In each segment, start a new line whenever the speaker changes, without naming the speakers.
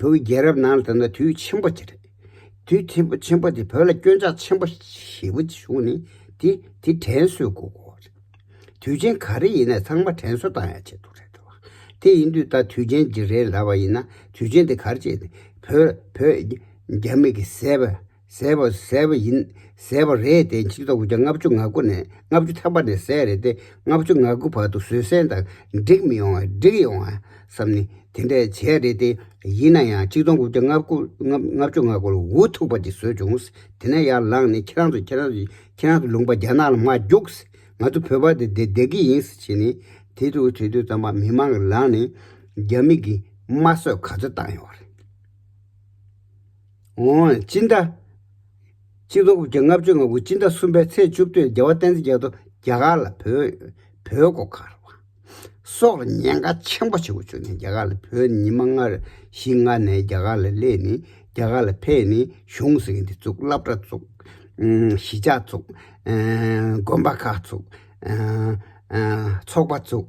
བོད་རྒྱལ་རབས་ནང་ལ་ད་ནི་དུས་ཆེན་པོ་ཆེ་རེད། དུས་ཆེན་པོ་དེ་བོད་ལ་སྐྱོན་ཆག་ཆེན་པོ་ཞེ་བོ་བྱུང་ནས་དེ་དེ་དྲན་གསོའི་དགོས་མཁོ་བ་རེད། དུས་ཆེན་ག་རེ་ཡིན་ན་ཚང་མ་དྲན་གསོ་དང་ཡང་བྱེད་ཐུབ་རེད་བ། དེ་ཡིན་དུས་ད་དུས་ཆེན་འདི་རེད་ལབ་པ་ཡིན་ན་དུས་ཆེན་དེ་གར་བྱས་ཏེ་བོད་བོད་རྒྱ་མི་གི་ཟས་པ་ཟད་པ་ཟད་པ་ཡིན་ཟད་པ་རེད་དེ་འཆི་རྟོག་གི་ལྔ་བཅུ་ང་དགུ་ནས་ལྔ་བཅུ་ཐམ་པ་ནས་ཟད་རེད་དེ་ལྔ་བཅུ་ང་དགུ་བར་དུ་བཟོད་བསྲན་དང་འགྲིག་མི་ཡོང་བ་འགྲིག་ཡོང་བ་བསམ་ནས་དེ་འདྲ་བྱས་རེད་དེ་ཡིན་ན་ཡང་ཆིག་སྟོང་དགུ་བརྒྱ་ང་དགུ་ལྔ་བཅུ་ང་དགུ་ལ་འུ་ཐུག་པ་ཅིག་བཟོས་བྱུང་དེ་ནས་ཡར་ལངས་ནས་ཁྱེད་རང་ཚོ་ཁྱེད་རང་ཚོ་ཁྱེད་རང་ཚོ་ལུང་པ་རྒྱ་ནག་ལ་མ་རྒྱུགས་ང་ཚོ་བོད་པ་དེ་འདི་བདེ་གི་ཡིན་བྱས་ནས་དེ་དུས་དེ་དུས་ཙམ་པ་མི་མང་གི་ལག་ནས་རྒྱ་མིག་གིས་དམར་གསོད་ག་ཚོད་བཏང་ཡོང་བ་རེད། ངོ་བོ་སྤྱི་ཟླ། སྤྱི་ལོ་དགུ་བརྒྱ་ལྔ་བཅུ་ང་དགུ་སྤྱི་ཟླ་གསུམ་པའི་ཚེས་བཅུ་བདུན་རྒྱལ་བ་བསྟན་འཛིན་རྒྱལ་ཐོ་རྒྱ་གར་ལ་བོད། བོད་སྒོ་ཁར་བ། སོགས་ལ་ཉེན་ཁ་ཆེན་པོ་ཆེ་བོ་བྱུང་ནས་རྒྱ་གར་ལ་བོད་ནི་ཉི་མ་ལྔ་བཞི་ལྔ་ནས་རྒྱ་གར་ལ་སླེབས་ནས་རྒྱ་གར་ལ་ཕེབས་ནས་གཞུང་ཟེར་གྱི་འདི་བཙུགས་བླ་བྲ་བཙུགས། གཞིས་ཆགས་བཙུགས། དགོན་པ་ཁག་བཙུགས། ཚོགས་པ་བཙུགས།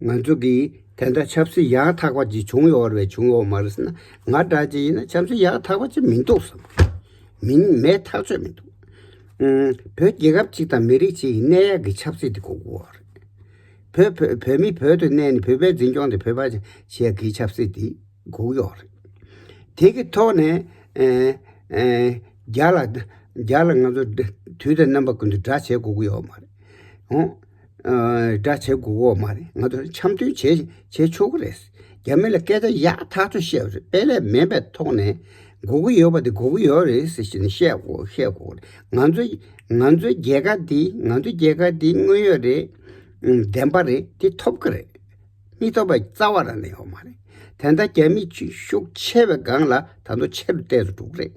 ང་ཚོ་གིས་དེ་འདྲ་ཆབ་སྲིད་ཡག་ཐག་པ་ཅིག་བྱུང་ཡོད་བར་བྱུང་ཡོད་མ་རེད་ཟེར་ན་ང་འདྲ་ཅིག་ཡིན་ན་ཆབ་སྲིད་ཡག་ཐག་པ་ཅིག་མི་འདུག་བསམ་མིན་མེད་ཐག་ཆོད་མི་འདུག་བོད་རྒྱལ་ཁབ་ཅིག་དང་མི་རིགས་ཅིག་གི་གནས་ཡག་གི་ཆབ་སྲིད་དེ་གོ་དགོས་བ་རེད། བོད་བོད་བོད་མི་བོད་དུ་གནས་ནས་བོད་པའི་འཛིན་སྐྱོང་དེ་བོད་པ་ཞིག་གི་ཆབ་སྲིད་དེ་གོ་གི་ཡོད་རེད། དེ་གི་ཐོག་ནས་རྒྱ་ལ་རྒྱ་ལ་ང་ཚོ་དུས་དང་རྣམ་པ་ཀུན་ཏུ་དགྲ་བྱེད་གོ་གི་ཡོད་མ་རེད། འདྲ་བྱེད་དགོས་འོག་མ་རེད་ང་ཚོ་འཆམ་མཐུན་བྱེད་ཆོག་གི་རེད། རྒྱ་མི་ལ་སྐད་ཆ་ཡག་ཐག་ཆོད་བཤད་རེད་དཔེ་ལས་མེད་པའི་ཐོག་ནས་འགོ་གི་ཡོད་པ་དེ་འགོ་གི་ཡོད་རེད་ཟེར་བཞིན་བཤད་དགོས་རེད་ང་ཚོའི་རྒྱལ་ཁ་འདི་ང་ཚོའི་རྒྱལ་ཁ་འདི་དངོས་ཡོད་རེད་བདེན་པ་རེད་འདི་ཐོབ་གི་རེད་མི་ཐོབ་པའི་རྩ་བ་རང་ནས་ཡོད་མ་རེད་དེ་འདྲ་རྒྱ་མི་ཤུགས་ཆེ་བའི་སྒང་ལ་ད་དུང་ཆེ་རུ་བལྟས་སུ་འགྲོ་གི་རེད།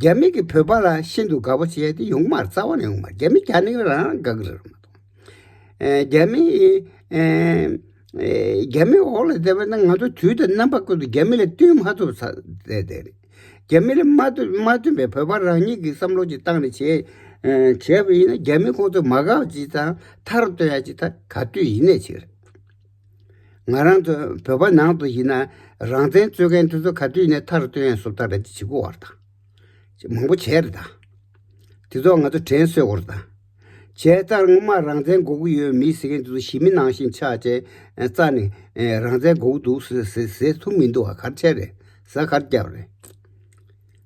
རྒྱ་མི་གིས་བོད་པ་ལ་ཤིན་ཏུ་དགའ་པོ་བྱས་ཏེ་ཡོང་མར་རྩ་བ་ནས་ཡོང་མར་རྒྱ་མི་གྱ་ནི་རང་རང་དགའ་གི་རེད། རྒྱ་མི་རྒྱ་མི་འོག་ལ་བསྡད་པ་ན་ང་ཚོ་དུས་དང་རྣམ་པ་ཀུན་ཏུ་རྒྱ་མི་ལ་བསྟུན་མ་ཐུབ་ས་དེ་རེད། རྒྱ་མི་ལ་མ་བསྟུན་པའི་བོད་པ་རང་ཉིད་ཀྱི་བསམ་བློ་གྱི་སྟངས་ནས་བྱས་བྱས་པ་ཡིན་ན་རྒྱ་མི་ཁོང་ཚོ་མ་དགའ་བ་ཅི་ཙང་མཐར་བསྟོད་ཡ་ཅི་ད་ག་དུས་ཡིན་ནས་ཅིག་རེད། ང་རང་ཚོ་བོད་པ་ནང་དུ་ཡིན་ན་རང་བཙན་རྩོད་མཁན་དེ་ཚོ་ག་དུས་ནས་མཐར་བཏོན་ཡང་སོབ་ཐག་རེད་ཅེས་གོ་བར་དང། མང་པོ་བྱས་རེད་ད། དེ་ཚོ་ང་ཚོ་དྲན་གསོས་དགོ་རེད་ད། བྱས་ཙར་སྔོན་མ་རང་བཙན་དགོ་གི་ཡོད་མི་ཟེར་མཁན་དེ་ཚོ་ཞི་མི་ནང་བཞིན་ཕྱག་ཅན་རྩ་ནས་རང་བཙན་དགོ་གི་འདུག་ཟེར་ཐུབ་མི་འདུག་ག་གར་བྱས་རེད་ཟ་གར་བརྒྱབ་རེད།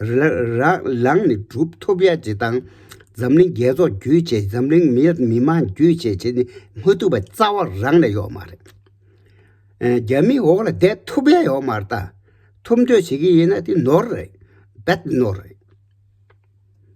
རག་ལངས་ནི་གྲུབ་ཐོབ་ཡ་བྱེད་དང། འཛམ་གླིང་རྒྱལ་ཚོགས་རྒྱུད་བྱེད་འཛམ་གླིང་མི་དམངས་རྒྱུད་བྱེད་བྱེད་ནི་མ་ཐུབ་པ་རྩ་བ་རང་ལ་ཡོད་མ་རེད། རྒྱ་མིའི་འོག་ལ་བསྡད་ཐུབ་ཡ་ཡོད་མ་རེད་ད། ཐུབ་འདོད་བྱེད་ཀྱི་ཡིན་ན་དེ་ནོར་རེད། Bad Nor། རེད།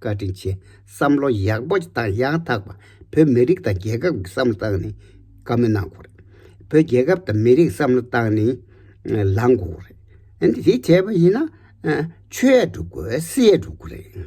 བཀའ་དྲིན་ཆེ། བསམ་བློ་ཡག་པོ་དང་ཡང་དག་པ་བོད་མི་རིགས་དང་རྒྱལ་ཁབ་ཀྱི་བསམ་བློ་བཏང་ནས་བཀའ་མོལ་གནང་དགོས་རེད། བོད་རྒྱལ་ཁབ་དང་མི་རིགས་བསམ་བློ་བཏང་ནས་ལངས་དགོས་རེད། འདི་བྱས་པ་ཡིན་ན་ཆོས་ཡས་འགྲུབ་དགོས་སྲིད་ཡས་འགྲུབ་དགོས་རེད།